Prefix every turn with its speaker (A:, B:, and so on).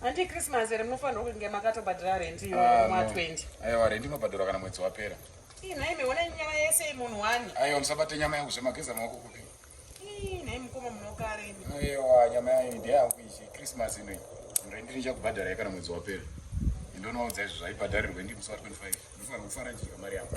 A: Handi
B: Christmas here munofanirwa kunge makatobhadhara rent iyo ah, mwa 20. Aiwa rent inobhadharwa
A: kana mwedzi wapera. Ii nhai miona
B: nyama yese imunhu wani. Aiwa musabate nyama yangu
A: zvemageza maoko kupi. Ii nhai
B: mukoma munokare imi. Aiwa nyama yangu
A: ndiye yangu ichi Christmas ino iyi. Rent ndichakubhadhara ye kana mwedzi wapera. Ndonoudza izvo zvaibhadharirwe ndi musi wa 25. Mufanirwa kufara chika mari yangu.